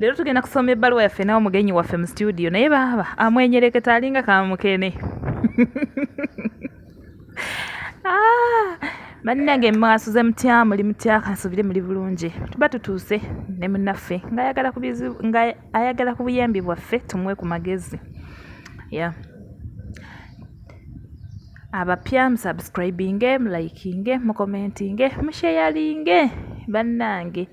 leero tugenda kusoma ebbaluwa yaffe nawe mugenyi waffe mu situdiyo naye baaba amwenyereketa alinga kamukene ah, bannange mwasuze mutya muli mutya kansubire muli bulungi tuba tutuuse ne munaffe ngaayagala ku buyambi bwaffe tumuwe ku magezi ya abapya musubscribinge mulikinge mukomentinge musheyalinge bannange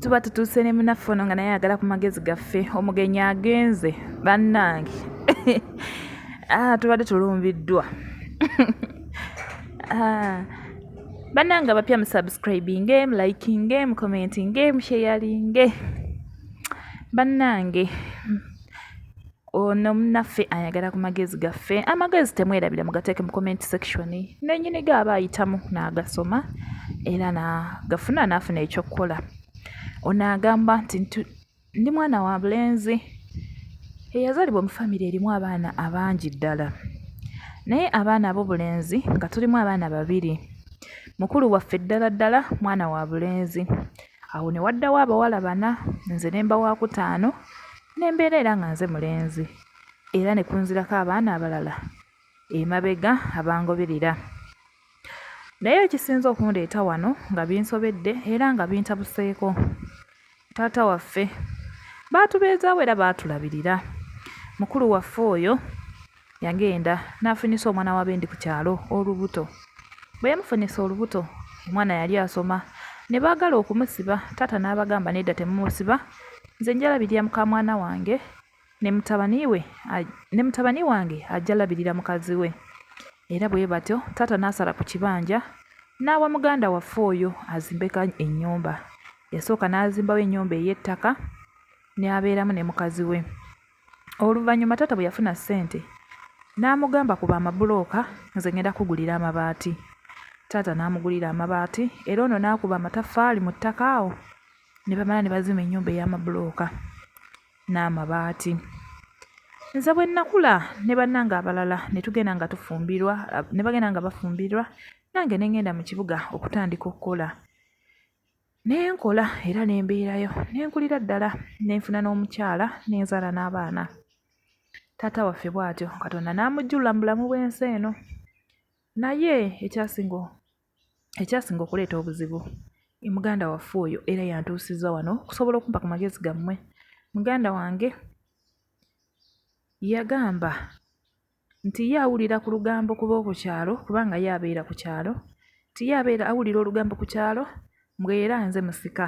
tuba tutuuse ne munaffe ono nga naye ayagala ku magezi gaffe omugenyi agenze bannange ah, tubadde tulumbiddwa ah, bannange abapya musubscribinge mulikinge mucommentinge musheyalinge bannange ono munaffe ayagala ku magezi gaffe amagezi temwerabira mugateeke mu comment section nenyini ge aba ayitamu n'agasoma era nagafuna n'afuna ekyokukola ono agamba nti ndi mwana wa bulenzi eyazalibwa mu famire erimu abaana abangi ddala naye abaana abobulenzi nga tulimu abaana babiri mukulu waffe ddala ddala mwana wa bulenzi Awo ne waddawo abawala bana nze ne mba waakutaano ne mbeera era nga nze mulenzi era ne kunzirako abaana abalala emabega abangoberera. Naye ekisinze okundeeta wano nga binsobedde era nga bintabuseeko, taata waffe baatubeezaawo era baatulabirira. Mukulu waffe oyo yagenda n'afunyisa omwana wa bendi ku kyalo olubuto. Bwe yamufunyisa olubuto omwana yali asoma ne baagala okumusiba taata n'abagamba nedda temumusiba nze nja labirira mukamwana wange ne mutabani we ne mutabani wange ajja labirira mukazi we era bwe batyo taata n'asala ku kibanja n'awa muganda waffe oyo azimbeka ennyumba. Yasooka n'azimbawo ennyumba ey'ettaka n'abeeramu ne mukazi we. Oluvannyuma taata bwe yafuna ssente n'amugamba ku bamabulooka nze ngenda kukugulira amabaati. Taata n'amugulira amabaati era ono n'akuba amataffaali mu ttaka awo ne bamala ne bazimba ennyumba ey'amabulooka n'amabaati. Nze bwe nnakula ne bannange abalala ne tugenda nga tufumbirwa ne bagenda nga bafumbirwa nange ne ngenda mu kibuga okutandika okukola. ne nkola era ne mbeerayo ne nkulira ddala ne nfuna n'omukyala ne nzaala n'abaana taata waffe bw'atyo katonda n'amujjulula mu bulamu bw'ensi eno naye ekyasinga ekyasinga okuleeta obuzibu muganda waffe oyo era yantuusiza wano okusobola okumpa ku magezi gammwe muganda wange yagamba nti ye awulira ku lugambo ku b'oku kyalo kubanga ye abeera ku kyalo, nti ye abeera awulira olugambo ku kyalo mbu era nze musika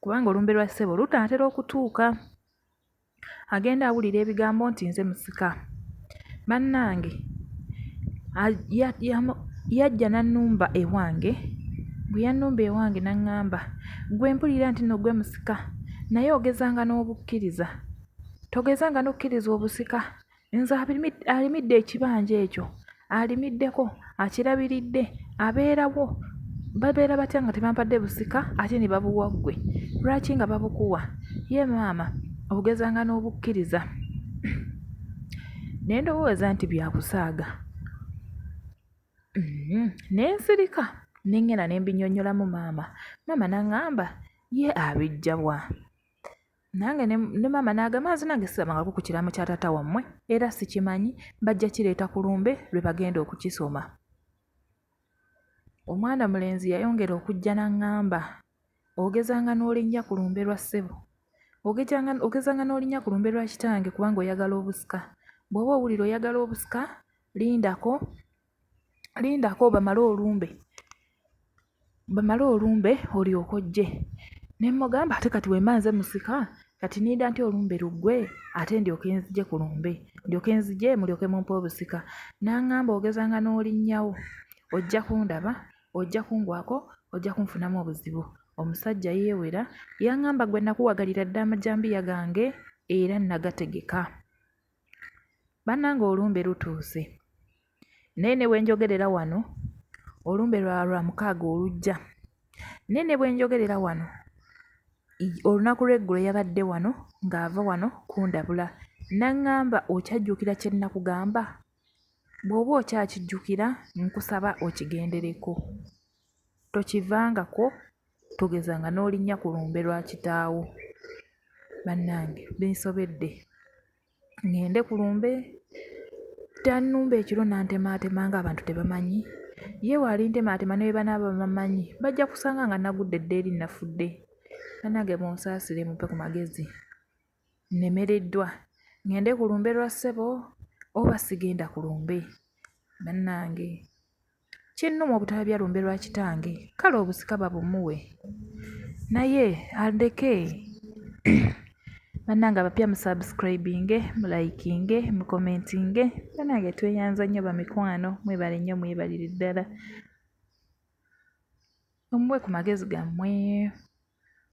kubanga olumbe lwa ssebo lunaatera okutuuka agenda awulira ebigambo nti nze musika. Bannange yajja n'annumba ewange, bwe yannumba ewange n'aŋŋamba ggwe mpulira nti nno ggwe musika naye ogezanga n'obukkiriza. Togezanga n'okkiriza obusika. Nze alimidde ekibanja ekyo alimiddeko, akirabiridde, abeerawo, babeera batya nga tebampadde busika ate ne babuwa ggwe? Lwaki nga babukuwa? Ye maama ogezanga n'obukkiriza ne ndowooza nti bya kusaaga. Mm-hmm. Ne nsirika ne ŋŋenda ne mbinnyonnyolamu maama. Maama n'aŋŋamba ye abiggya wa? nange ne maama n'agamba nze nange sirabangako ku kiraamo kya taata wammwe era sikimanyi bajja kireeta ku lumbe lwe bagenda okukisoma omwana mulenzi yayongera okujja n'aŋŋamba ogezanga n'olinnya ku lumbe lwa ssebo ogezanga n'olinnya ku lumbe lwa kitange kubanga oyagala obusika bw'oba owulira oyagala obusika lindako lindako bamale olumbe bamale olumbe olyoke ojje. Ne mmugamba ate kati bwe mba nze musika kati nninda ntya olumbe luggwe ate ndyoke nzije ku lumbe ndyoke nzije mulyoke mumpe obusika? N'aŋŋamba ogezanga n'olinnyawo ojja kundaba ojja kungwako ojja kunfunamu obuzibu. Omusajja yeewera yaŋŋamba gwe nakuwagalira dda amajambiya gange era nagategeka. Bannange olumbe lutuuse naye ne bwe njogerera wano olumbe lwa Lwamukaaga olujja naye ne bwe njogerera wano olunaku lw'eggulo yabadde wano ng'ava wano kundabula n'aŋŋamba okyajjukira kye nnakugamba? Bw'oba okyakijjukira nkusaba okigendereko tokivangako. Togeza nga n'olinnya ku lumbe lwa kitaawo. Bannange binsobedde, ŋŋende ku lumbe? Tannumba ekiro n'antemaatema ng'abantu tebamanyi? Ye bw'alintemaatema ne bwe banaaba bamanyi bajja kusanga nga nagudde dda eri nafudde. Bannange munsaasire mumpe ku magezi, nnemereddwa. Ŋŋende ku lumbe lwa ssebo oba sigenda ku lumbe? Bannange Kinnuma obutalabya lumbe lwa kitange, kale obusika babumuwe naye andeke. Bannange abapya mu subscribinge, mu likinge, mu commentinge. Bannange tweyanza nnyo bamikwano, mwebale nnyo mwebalire ddala. Omuwe ku magezi gammwe.